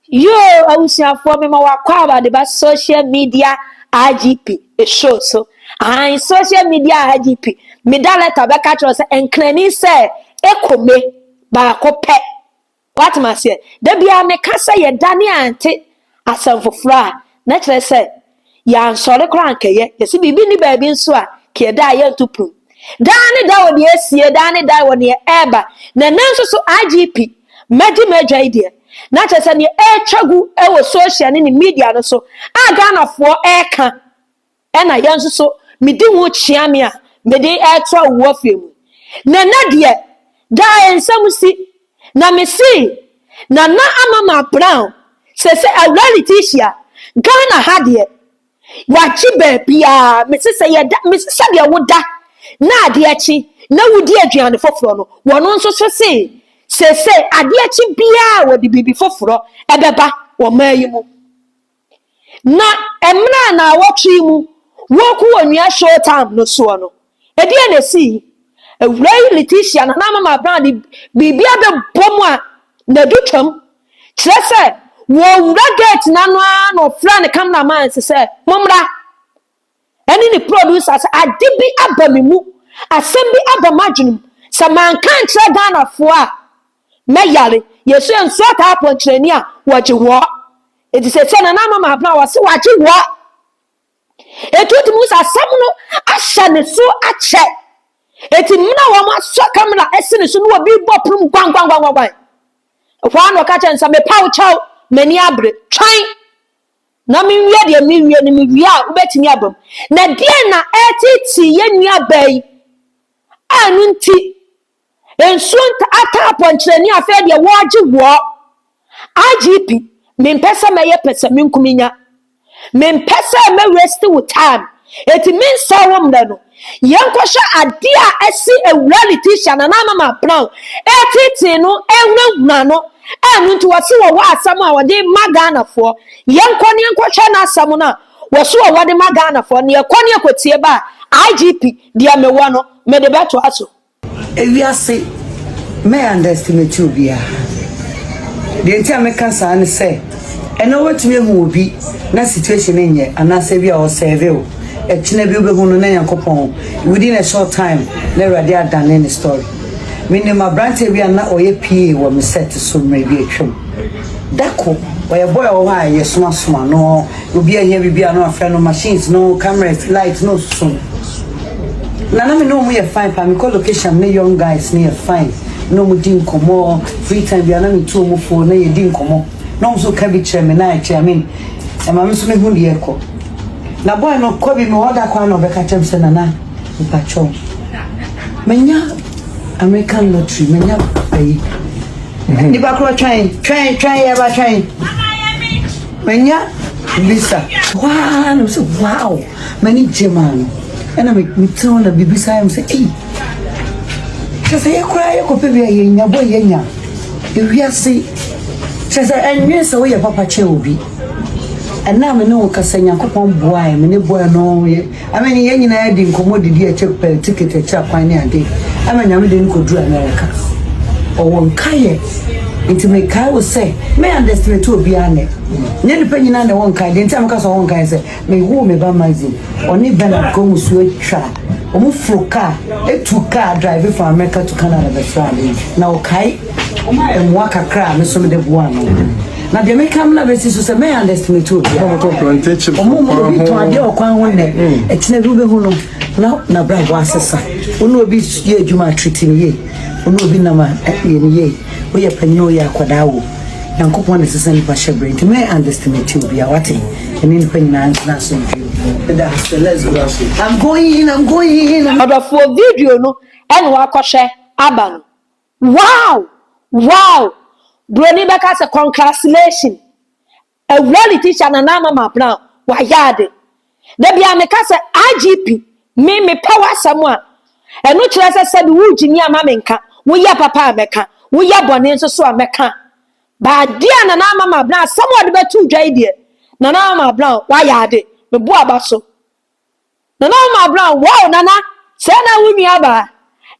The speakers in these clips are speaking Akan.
Yoo abusuafoɔ mema wakɔ aba de ba social media IGP show so ahan social media IGP meda letter bɛka kyerɛ sɛ nkrani sɛ ekome baako pɛ wate maseɛ da biara meka sɛ yɛdane ante asɛm foforɔ a na kyerɛ sɛ Yɛansɔre koraa ankɛyɛ. Yɛse biribi nni baabi nso a, kiɛ da a yɛnto prum. Daa ne da wɔ deɛ asie, daa ne da wɔ neɛ ɛɛba. Na ɛnnɛ nso so IGP, magye m'adwa yi deɛ, na kyerɛ sɛ neɛ ɛɛtwa gu wɔ social ne ne media no so a Ghanafoɔ ɛɛka, ɛna yɛn nso so medi ho kyea me a mede ɛɛto awuwafie mu. Na ɛnnɛ deɛ, daa nsɛm si. Na mesee Nana Amama Brown sɛ sɛ Awuraa Letitia, Ghana ha deɛ, yɛagye baabiara, mese sɛ yɛda, mese sɛdeɛ woda na adeɛ kye na wodi aduane foforɔ no, wɔn nso so see seesei adeɛ kye biara wɔde biribi foforɔ ɛbɛba ɔman yi mu. Na mmerɛ a naawɔtwe yi mu wɔku Onua Showtime no soɔ no, ɛdeɛn na ɛsii? Awuraa yi Letitia na na Mama Brown de biribi abɛbɔ mu a n'adu twam. Kyerɛ sɛ, wɔwura gate no ano ara na ɔfrɛɛ ne cameraman se sɛ, Mommra! ɛne ne producer sɛ ade bi aba me mu, asɛm bi aba m'adwenem, sɛ manka ankyerɛ Ghanafoɔ a mɛyare. Yɛsu yɛ nsuo taa pɔnkyerɛni a wɔgye woɔ. Eti sɛ sɛ Nana Ama Mahabena wɔse wɔagye woɔ. Eti wotumi hu sɛ asɛm no ahyɛ ne so akyɛ. Eti mmerɛ a wɔn asɔ kamera ɛsi ne so na obi bɔ prum gwanggwanggwanggwan. Ɛhɔ ara na ɔka kyerɛ no sɛ mepa wo kyɛw, m'ani abere, twɛn. Na menwia deɛ merewie no, mewie a wobɛtumi aba mu. Na deɛn na ɛreteetee yɛn nuabaa yi a ɛno nti nsuo ataa pɔnkyerɛni afei deɛ wɔregye wɔ IGP mempɛ sɛ mɛyɛ pɛsɛmenkominya. Mempɛ sɛ mɛ waste wo time. Eti mensɛe wo mmerɛ no. Yɛnkɔhwɛ adeɛ a asi awura Letitia Nana Mama Brown ɛreteetee no ɛrehunahuna no a ɛno nti wɔse wɔwɔ asɛm a wɔde ma Ghanafoɔ. Yɛnkɔ ne yɛnkɔhwɛ n'asɛm no a wɔse wɔwɔ de ma Ghanafoɔ no. Yɛkɔ ne yɛkɔtie ba a IGP deɛ mewɔ no mede bɛtoa so. Ewiase, mɛ underestimate obiara. Deɛ nti a meka saa ne sɛ, ɛnɛ wobɛtumi ahu obi na situation no nyɛ anaasɛ ebi a ɔsɛɛve wo. Ɛkyena bi wobɛhu no na Nyankopɔn within a short time na Awurade adane ne story. Menim aberanteɛ bi a na ɔyɛ PA wɔ me set so mmerɛ bi atwam. Dako, ɔyɛ boy a ɔwɔ hɔ a yɛsomasoma no, obi ahia biribi a na wafrɛ no, machines no, cameras, light na ɔsusu ho. Na na me ne wɔn yɛ fine paa mekɔ location me ne young guys no yɛ fine na wɔn di nkɔmɔ free time bi ana metu wɔn fo na yɛ di nkɔmɔ na wɔn nso ka bi kyerɛ me na ɛkyɛ amen ɛma me nso me hu deɛ ɛkɔ na boy no kɔ bi me hɔ da kwan na ɔbɛka kyerɛ me sɛ nana mpakyɛw menya American lottery menya ayi mhm. nipa korɔ twɛn twɛn twɛn yɛ ba twɛn menya visa waa na mo sɛ wow. M'ani gye maa no. Ɛna me metena hɔ na bibisa yam sɛ ei kyerɛ sɛ yɛ koraa yɛkɔpɛ bi a yɛnya bɔ yɛnya ewiase kyerɛ sɛ ɛnwene sɛ woyɛ papa kyɛ obi ɛna me ne wo kasa nyankopɔn boae me ne boa no yɛ ama ne yɛn nyinaa di nkɔmmɔ didi ɛkyɛ pɛ ticket ɛkyɛ akwan ne ade ama nyame de no kɔduru amerika ɔwɔ nkayɛ nti mekae wo sɛ me underestimate obiara nɛ nyɛ nipa nyinaa na ɛwɔ nkae deɛ nti a meka sɛ ɔwɔ nkae sɛ Mehuu me ba Maxine, ɔne Bernard kɔn mu su atwa. Wɔforo kaa, tu kaa drive from America to Canada bɛfraa me, na ɔkae mmoa kakra a me nso mede boaa no. Na deɛ meka amena bɛsi so sɛ mɛyɛ underestimate obi. Wɔn mu obi tɔn adeɛ wɔ kwan ho nnɛ, ɛkyinɛ bi wobɛhu no na n'abrabɔ asesa. Wo ne obi yɛ adwuma a, treat no yie. Wo ne obi nam a, yɛ no yie. Woyɛ panyin o, woyɛ akwadaa o. Nyankopɔn na ɛsɛ sɛ nnipa hyɛ bere nti mɛn underestimate obiara wate ɛne nnipa nyinaa ntena asomdwe ɛda sɛ let's go I'm going I'm going Ɔdɔfoɔ video no ɛna wakɔhwɛ aba no wow wow broni bɛka sɛ congratulations Awuraa Letitia Nana Amama Brown wayɛ ade. Da biara meka sɛ IGP me mepɛ w'asɛm a ɛno kyerɛ sɛ sɛbi wo gyimi a ma menka, wo yɛ papa a mɛka, wo yɛ bɔne nso so a mɛka. Bade a Nana Amama Brown asɛm a ɔde bɛto dwa yi deɛ Nana Amama Brown wayɛ ade. Meboa aba so Nana Omar Brown, Wow Nana, sɛɛ na wo nua baa.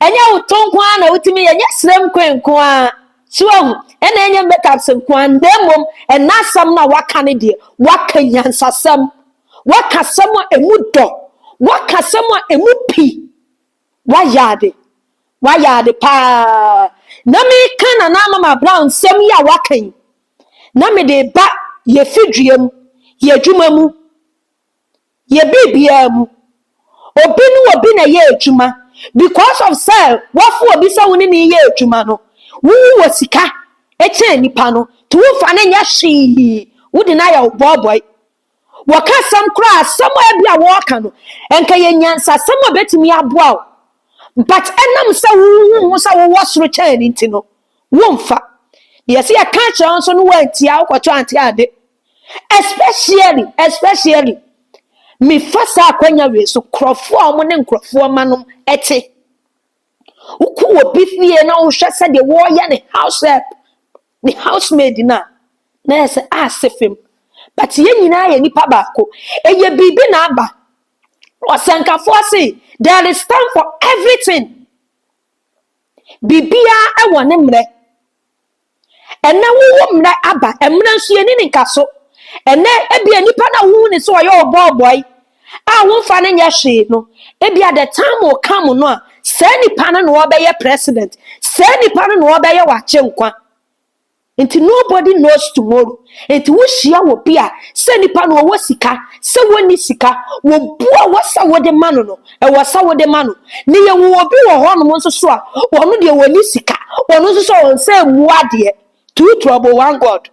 Ɛnyɛ wo to nko ara na wotumi yɛ, ɛnyɛ srem kwen nko ara, so ahu, ɛna ɛnyɛ makeups nko ara, na mmom ɛna asɛm no a waka no deɛ, waka nyansasɛm, waka asɛm a ɛmu dɔ, waka asɛm a ɛmu pi, wayɛ ade, wayɛ ade paa. Na meka Nana Omar Brown nsɛm yi a waka yi, na mede ba yɛfidua mu, yɛadwuma mu, yɛ biribiara mu. Obi ne obi na ɛyɛ adwuma. Because of sɛ woafo obi sɛ wo ne ne yɛ adwuma no, wowu wɔ sika kyɛn nipa no. Nti wofa no nyɛ hwee, wode no ayɛ wo bɔɔbɔe. Wɔka asɛm koraa asɛm a ebi a wɔreka no, nka yɛ nyansasɛm a ebetumi aboa wo. But ɛnam sɛ wohu ho sɛ wowɔ soro kyɛn no nti no, womfa. Deɛ ɛsɛ yɛka kyerɛ wo nso no woantie a wokɔto ante ade. especially especially mefa saa akwanya wei so nkurɔfoɔ a wɔn ne nkurɔfoɔ ma nom ɛte wokɔ obi fie na wohwɛ sɛ deɛ wɔreyɛ ne house help ne housemaid no a na yɛ sɛ ase fam but yɛn nyinaa yɛ nipa baako ɛyɛ biribi na aba ɔsɛnkafoɔ se there is time for everything biribiara ɛwɔ ne mmerɛ Ɛnnɛ wowo mmerɛ aba, mmerɛ nso yɛnni ne nka so. Ɛnnɛ ebia nipa no a wohu ne sɛ ɔyɛ ɔbɔɔbɔe a womfa no nyɛ hwee no, ebia the time will come no a saa nipa no na ɔbɛyɛ president, saa nipa no na ɔbɛyɛ w'agyenkwa. Nti nobody knows tomorrow. Nti wohyia wɔ bi a sɛ nipa no ɔwɔ sika, sɛ wɔnni sika, wɔbu a wɔsɛ wode ma no no, Ɛwɔ sɛ wode ma no. Na yɛwɔ obi wɔ hɔnom nso so a, ɔno deɛ ɔnni sika. Ɔno nso sɛ ɔnsɛ mmu adeɛ. Too trouble one God.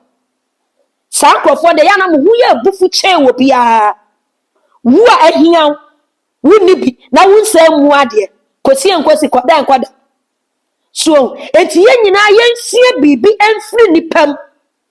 Saa nkurɔfoɔ deɛ, ɛyɛ a na mo ho yɛ abufu kyɛn obiara. Wo a ahia wo, wonni bi, na wonsɛ mmu adeɛ. Kɔsi nkɔsi, kɔda nkɔda. So, enti yɛn nyinaa yɛnsua biribi mfiri nnipa mu.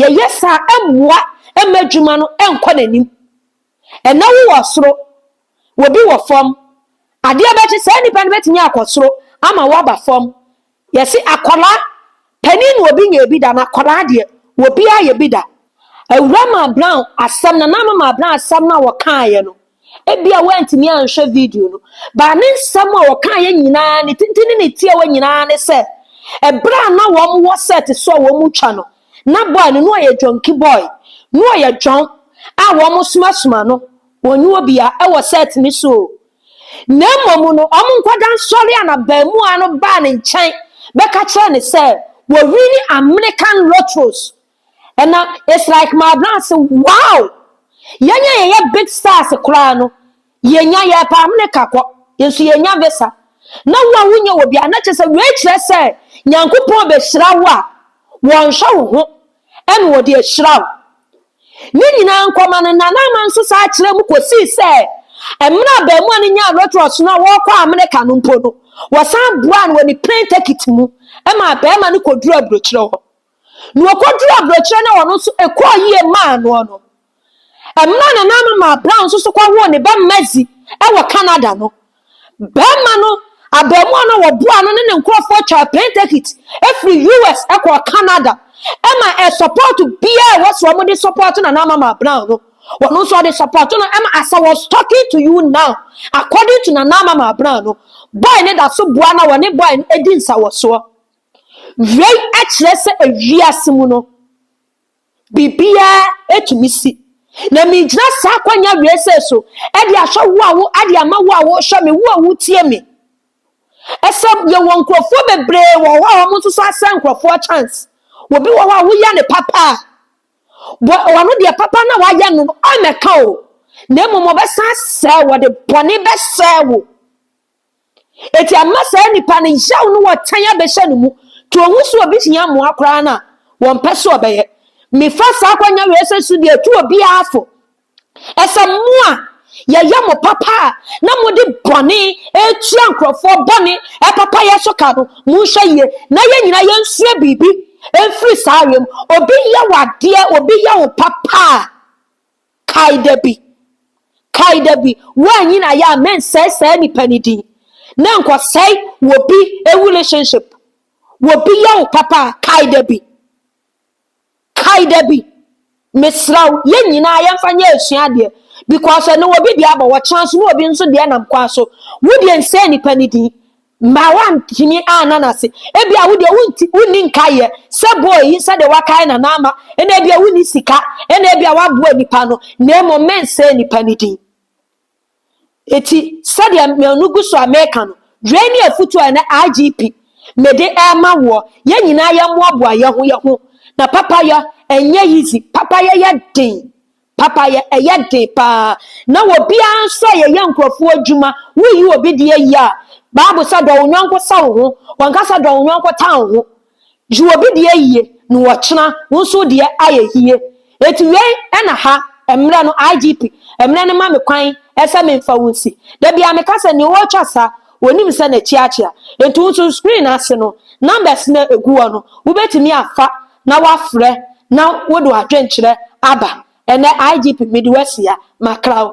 Yɛyɛ saa a, ɛmmoa mma adwuma no nkɔ n'anim. Ɛnnɛ wowɔ soro, obi wɔ fam. Adeɛ bɛkye, saa nipa no bɛtumi akɔ soro ama woaba fam. Yɛse akwadaa, panin na obi nyɛɛ bi da, na akwadaa deɛ, obiara yɛ bi da. Awuraa Maa Brown asɛm, Nana Ama Maa Brown asɛm no a wɔkaeɛ no, Ebia woantumi anhwɛ video no, baa ne nsɛm a ɔkaeɛ nyinaa, ne tenten ne ne tiawa nyinaa ne sɛ, ɛberɛ a na wɔn wɔ set so a wɔn mu twa no, na boy no, na ɔyɛ dwɔnki boy, na ɔyɛ dwɔn a wɔn somasoma no, wɔn nyɛ obia ɛwɔ set no so o. Na mmom no, wɔn nkwadaa nsɔre a na baamua no baa ne nkyɛn bɛka kyerɛ ne sɛ, wɔ wini American lotteries ɛna it's like mabrɛ ase wow yɛn a yɛyɛ big stars koraa no yɛnya yɛpa amene ka kɔ yɛn nso yɛnya visa na wo a wonyɛ wɔ bia na kyerɛ sɛ wei kyerɛ sɛ nyankopɔn bɛhyira wo a wɔnhwɛ wo ho ɛna wɔde ahyira wo ne nyinaa nkɔma no nana ama nso saa kyerɛ mu kɔsii sɛ mmerɛ a baamu a no nyaa rotoros no a wɔkɔ amene ka no mpo no wɔsan boa no wɔ ne plane ticket mu ɛma bɛrima no kɔduru aburokyerɛ hɔ na ɔkɔduruu aburokyerɛ na ɔno nso ɛkɔɔ yie maa noɔ no. Mmerɛ nananom maa Brown nso so kɔwoo ne ba Mazi wɔ Canada no, barima no, abaamuwa no a wɔboaa no ne ne nkorɔfoɔ twaa plane ticket firi US kɔɔ Canada ma ɛ support biara ɛwɔ sɛ wɔn de support Nana Mama Brown no, wɔn nso wɔde support no ma as I was talking to you now, according to Nana Mama Brown no, boy ne da so boa na wɔne boy no di nsawɔsoɔ. Wei kyerɛ sɛ wiase mu no, biribiara tumi si. Na megyina saa akwanya wei sɛ so de ahwɛ wo a wo de ama wo a wohwɛ me, wo a wotie me. Ɛsɛ yɛwɔ nkurɔfoɔ bebree wɔ hɔ a wɔn nso so asɛ nkurɔfoɔ chance. Obi wɔ hɔ a woyɛ ne papa a, bɔ ɔno deɛ papa na wayɛ no ɔmmɛka o, na mmom ɔbɛsan asɛe wo, ɔde bɔne bɛsɛe wo. Enti ɛma saa nipa no yaw ne ɔtan abɛhyɛ ne mu. To ohu sɛ obi hia mmoa koraa no a, wɔmpɛ sɛ ɔbɛyɛ. Mefa saa akwannya wei sɛ so de atu obiara fo sɛ mo a yɛyɛ mo papa a na mode bɔne retua nkurɔfoɔ bɔne papayɛ so ka no, monhwɛ yie na yɛn nyinaa yɛnsua biribi mfiri saa awem. Obi yɛ wo adeɛ, obi yɛ wo papa a, Kae da bi, kae da bi, woanyin ayɛ a mensɛe saa nipa no din, na nkɔsɛe wobi relationship, wobi yɛ wo papa a, kae da bi, kae da bi, mesrɛ wo, yɛn nyinaa yɛmfa nyɛ asuadeɛ, because ɛno wobi deɛ abɔ, wɔkyena nso na obi nso deɛ nam kwa so, wo deɛ nsɛe nipa no din. Ma wantumi anna n'ase. Ebia wo deɛ wonti wonni nkaeɛ sɛ bɔɔ yi sɛdeɛ wakae na na ama ɛna ebia wonni sika ɛna ebia waboa nipa no na mmom mensɛe nipa no din. Eti sɛdeɛ mmienu gu so a meka no, wei ne afutuo a ɛnɛ IGP mede ɛrema woɔ. Yɛn nyinaa yɛmmoaboa yɛn ho yɛn ho na papayɔ ɛnyɛ easy, papayɔ yɛ den. Papayɛ, ɛyɛ den paa. Na obiara nso a yɛyɛ nkurɔfoɔ adwuma, woyi obi deɛ yi a, Bible sɛ dɔ wo yɔnko sɛ wo ho, wɔnka sɛ dɔ wo yɔnko tan wo ho. Gye obi deɛ yie na ɔkyena wo nso wo deɛ ayɛ yie. Enti wei na ha mmerɛ no IGP mmerɛ no ma me kwan sɛ memfa wo nsi. Da biara meka sɛ nea ɔretwa sa ɔnim sɛ n'akyi akyea. Enti wo nso screen ase no numbers no a ɛgu hɔ no wobɛtumi afa na wafrɛ na wode w'adwenkyerɛ aba. Ɛnɛ IGP mede wo asia, Mackraw.